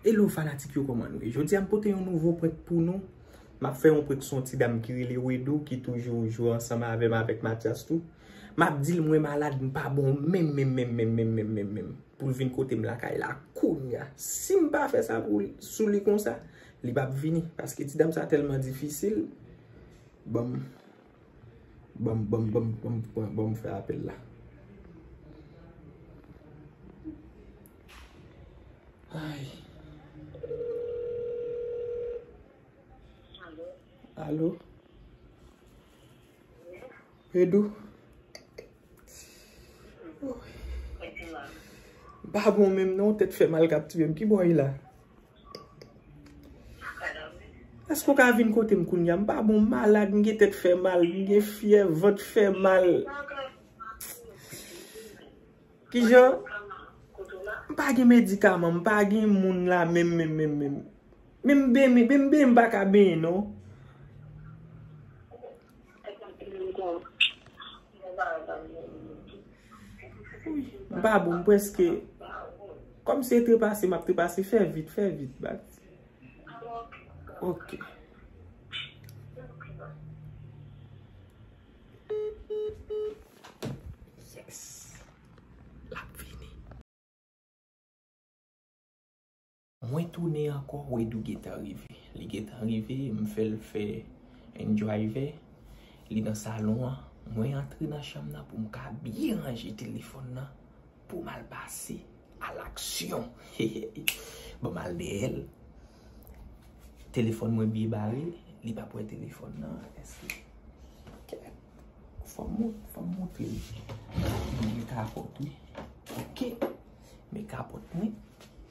Hello fanatik yo koman nou ye? Jodi a m pote yon nouvo prank pou nou. M ap fè yon prank sou yon ti dam ki rele Wedou ki toujou jwe ansanm avè m avèk Matyas tou. M ap di l mwen malad m pa bon menm menm menm menm menm menm menm menm pou l vin kote m lakay la kounya. Si m pa fè sa pou li sou li konsa, li p ap vini paske ti dam sa tèlman difisil. Banm Banm Banm Banm Banm pran Banm fè apèl la Ayy Alo Alo Fedou Mpa bon menm non tèt fèmal kap tiyem kibò ye la. Eske ou ka vin kote m kounya? M pa bon, m malad, m gen tèt fè mal, m gen fyèv, vant fè mal. Kijan? M pa gen medikaman, m pa gen moun la menm menm menm menm. Men m benyen, men m benyen m pa ka benyen non. M pa bon m preske Kom se trepase map trepase fè vit fè vit bat Ok. Yes. Lap vini. Mwen tounen ankò Wedou gentan rive. Li gentan rive m fè l fè yn drive li nan salon an mwen antre nan chanm nan pou m ka byen ranje telefòn nan pou m al pase a laksyon hehe bon m al dèyè l telefòn mwen byen bare li pap wè telefòn nan eske ok fò m fò m montre l m gen kapòt wi ok men kapòt mwen.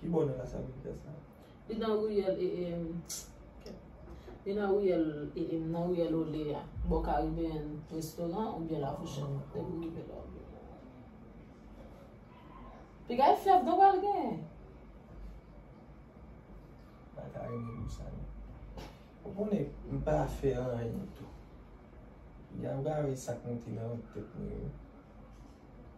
Ki bò nan Las Américas la? Li nan riyèl e e Li nan riyèl e e Nan riyèl Olé a Bò Caribbean Restaurant oubyen Lafourchèt Depi w rive la Piga e fyèf donk wal gen Mwen ta renmen pou sa non Ou konnen m pa fè anyen tou Piga ou ka wè sa k monte nan tèt mwen yo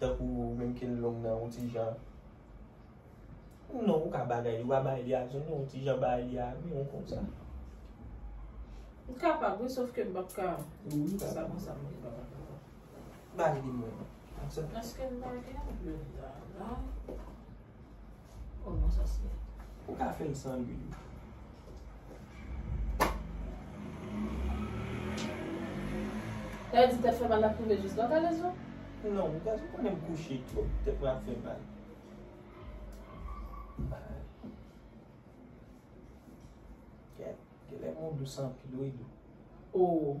Tankou ou menm kel long nan yon ti jan non ou ka bagay li wa bay li a zone yon ti jan bay li a yon konsa. M kapab wi sof ke m pap ka konsa konsa m pap ka kapab. Ba li mwen non. Eske m pa gen yon blenda la? Oh non sa se. Ou ka fèl san lwil wi. Ew di tèt fè mal lap rive jis lò kalezo? Non, gazou konnen m kouche twòp tèt mwen ap fè mal. Kèt, genlè mwen dous anpil wi. Oh.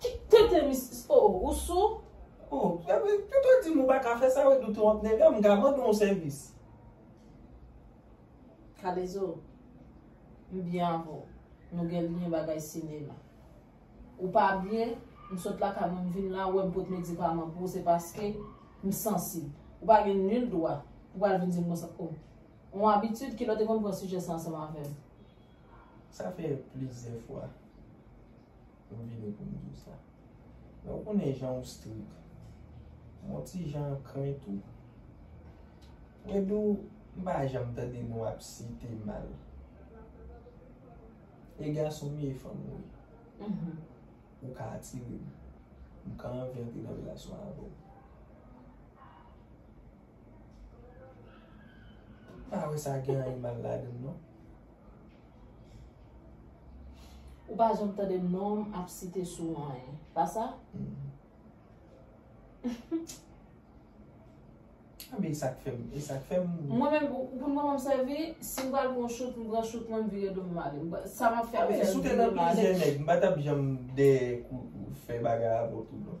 Ki tenten missis oh oh ou sou. Oh epi tout ou dim ou paka fè sa ou epi ou twonp nègam m ka mande w yon sèvis. Kalezo m byen avè w nou gen lyen bagay sinema ou pa byen m sot lakay mwen m vin la ou wè m pot medikaman pou ou se paske m sansib ou pa gen nil dwa pou pral vin dim konsa oh yon abitid kilè w te konn pran sijè sa ansanm avè m. Sa fè plizyè fwa. M vini pou m di w sa. Men ou konnen jan ou strik. M on ti jan ankren tou. Wedoo, m pa janm tande nou ap site mal. E gason m ye e fanm ou ye. Ou ka atire m. M ka anvi antre nan relasyon avè w. M pa wè sa gen anyen mal ladan l non. Ou pa janm tande nonm ap site sou anyen. Pa sa? A men e sa k fè m, e sa k fè m. Mwen menm, pou m konn obsève, si m pral pran chout, m pran chout mwen m vire do m m ale. Sa m ap fè m fè l vire m ale. A men si w te nan plizyè nèg, m pa t ap janm dèyè kou fè bagay avè w tou non.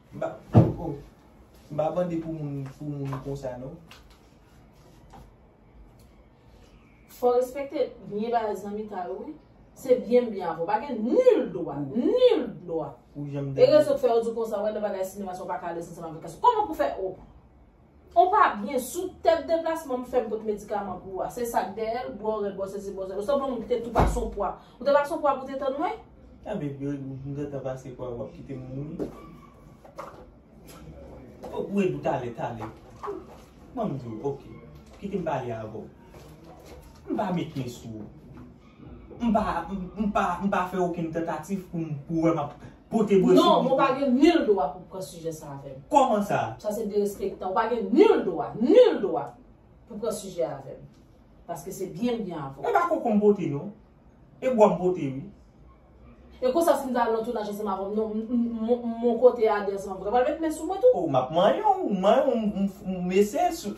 Mpa oh mpa bande pou moun pou moun konsa non. Fò respekte byen bagay zanmitay ou wi. Se byen m byen avè w. Pa gen nul dwa, nul dwa. E rezon k fè yo di w konsa wè nan bagay sinema sa w pa ka alèz ansanm avèk gason. Kòman pou fè oh. Ou pa byen sou tèt deplasman m fèm kot medikaman pou ou a se sak dèyèl bwè w rèd bwè w sezi bwè w sèl ou se bon moun ki te tou pase w pwa ou te pase w pwa pou te tann mwen? A bebe m gentan pase pwa wap kite m mouri ok wedou tale tale banm di w ok kite m pale avè w m pa mecyen sou ou. M pa, m pa, m pa fè okenn tantatif pou m, pou w wè m ap pote bwè sou mikou. Non, men w pa gen nil dwa pou w pran sijè sa avè m. Kòman sa? Sa se derespektan. W pa gen nil dwa, nil dwa pou w pran sijè a avè m. Paske se byen m byen avè w. E pa koko m pote non. E bwa m pote wi. E konsa si m ta al nan tounaj ansanm avè w, non, m mon kote a 200 vre. W pral met men sou mwen tou? O, m ap manyen w, m manyen w, m eseye sou.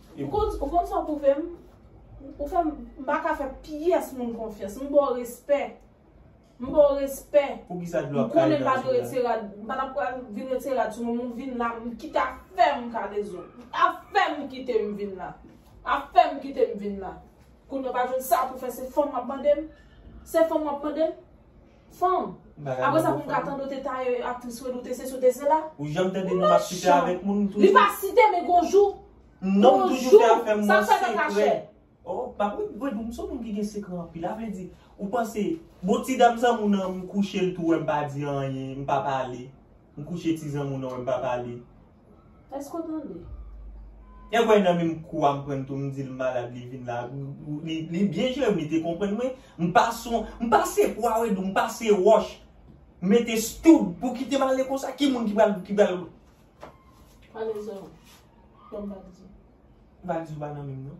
Ou konn sa w pwouve m? Ou fè m pa ka fè pyès moun konfyans. M ba w respè. M ba w respè. Poukisa dlo ap kaye nan sou la? M pa t ap pral vin retire rad sou mwen men w vin la. Kit a fè m kale zo. A fè m kite m vin la. A fè m kite m vin la. Kounye w pa jwenn sa pou w fè se fon w ap mande m? Se fon w ap mande m? Fanm. Apre sa pou m ka tande w te taye aktris Reine ou te sesi ou te sela. Ou janm tande non map site avek moun m toujou. Li pa site men gon jou. Non m toujou fè afè m nan sekrè. Oh pa pou m Reine m son moun ki gen sekrè anpil a vle di ou panse bon ti dam zanmou nan m kouche l tou wè m pa di anyen m pa pale m kouche ti zanmou nan wè m pa pale. Eske w tande? Nèg wè nan menm kou a m pran tou m di l malad li vin la li byen jere m li te konprann mwen m pa son m pa se pwa wedou m pa se wòch m mete stoud pou kite m ale konsa ki moun ki pral ki pral Pale zòrèy m fè m pa di. M pa di w pa nan menm non.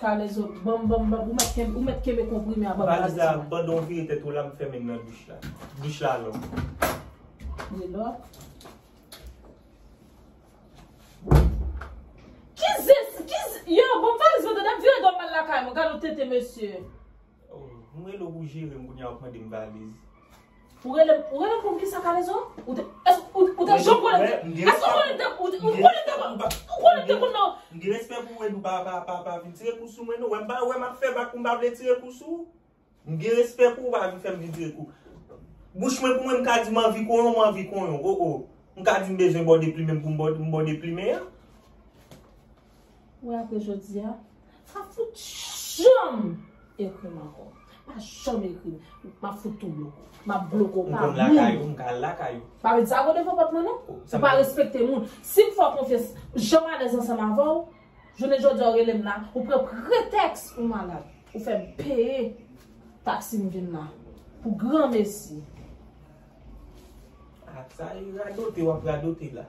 Kalezo banm banm banm ou mèt kenbe ou mèt kenbe konprime a banm baz ti. Valiz la pandan ou vire tèt ou la m fèmen nan douch la. Douch la lò. Li lò. Ki zis ki yo banm valiz mwen tande m vire do m al lakay mwen gad yon tenten mesye. Ou m rele w pou jere m kounya wap mandem valiz. Ou rele m pou kisa kalezo? Ou te ou te janm konnen m te Eske w konnen m te ou konnen m te konn ou konnen m te konn nan M gen respè pou ou Edou pa pa pa vin tire kou sou mwen non wèm pa wè map fè bak pou m pa vle tire kou sou ou M gen respè pou ou pa vin fè m vin tire kou Bouch mwen pou mwen m ka di m anvi konyon m anvi konyon o o M ka di m bezwen bòde plimen m pou m bòde plimen an. Wè apre jodia pa fout janm ekrim ankò pa janm ekrim map fout tou bloko map bloko pa moun. M konn lakay ou m ka al lakay ou. Pa met zago devan pòt mwen non. Ou pa respekte moun. Sim fè w konfyans janm alèz ansanm avè w jounen jodia ou rele m la ou pran pretèks ou malad ou fè m peye taksi m vin la pou granmesi. A sa e radote wap radote la.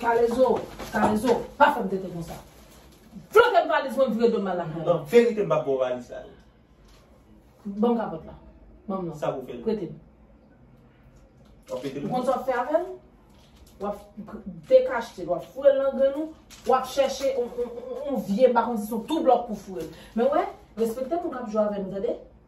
Kalezo, kalezo, pa fèm tenten konsa. Flotem valiz mwen vire dom al lakay. Nan verite m pap baw valiz sa yo. Banm kapòt la. Banm nan. Sa pou fèl. Pretem. Wap pretem li. Ou konn sa wap fè avèl? Wap dekachetel, wap fourel nan grenn ou, wap chèche yon vye bakon si son tou blòk pou fourel. Men wè, respekte moun kap jwe avèm tande.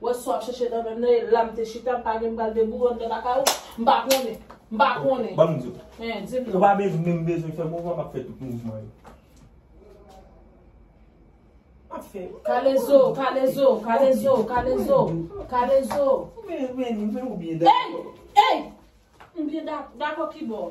Wè sa w ap chèche nan men m nan e la m te chita m pa gen m pral debouye w anndan lakay ou m pa konnen m pa konnen Ban m di w Hein di m non Ou pa bezwen men m bezwen fè mouvman m ap fè tout mouvman yo M ap fè Kalezo kalezo kalezo kalezo kalezo Men men men ou byen dakò Ey ey m byen dakò dakò kibò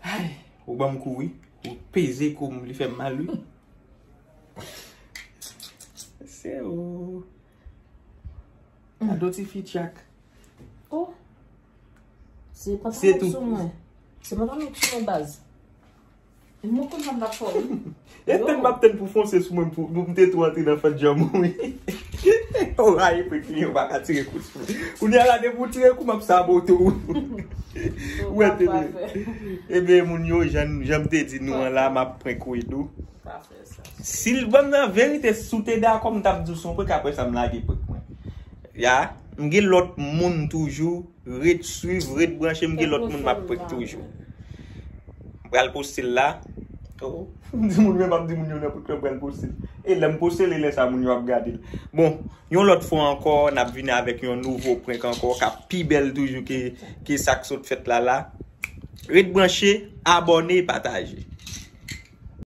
Ay, ou banm kou wi. Ou peze kou m, li fè m mal wi. Se ou. Kado ti fi tchak. Oh. Se pa tanm sou mwen. Se pa tanm sou mwen baz. Mwen kontan m pa fò wi. E tèt map tèt pou fonse sou mwen pou m te tou antre nan fè djanm ou wi. Ou rayi pou kli yo baka tire kou sou mwen. Kou ni ala depi ou tire kou map sa bo tou. Ou wè tele. Ebe moun yo janm te di nou an la map prank ou edou. Pa fè sa. Si l banm nan verite si w te dakò m tap di w son prank apresa m lage prank mwen. Ya. M gen lòt moun toujou. Ret swiv ret branche m gen lot moun map prank toujou. M pral poste l la. Oh m di moun men map di moun yo nan pot lan m pral poste l. E lèm poste l e lè sa moun yo ap gade l. Bon yon lot fwa anko nap vini avek yon nouvo prank anko kap pi bel toujou ke sak sot fet la la. Ret branche abone pataje.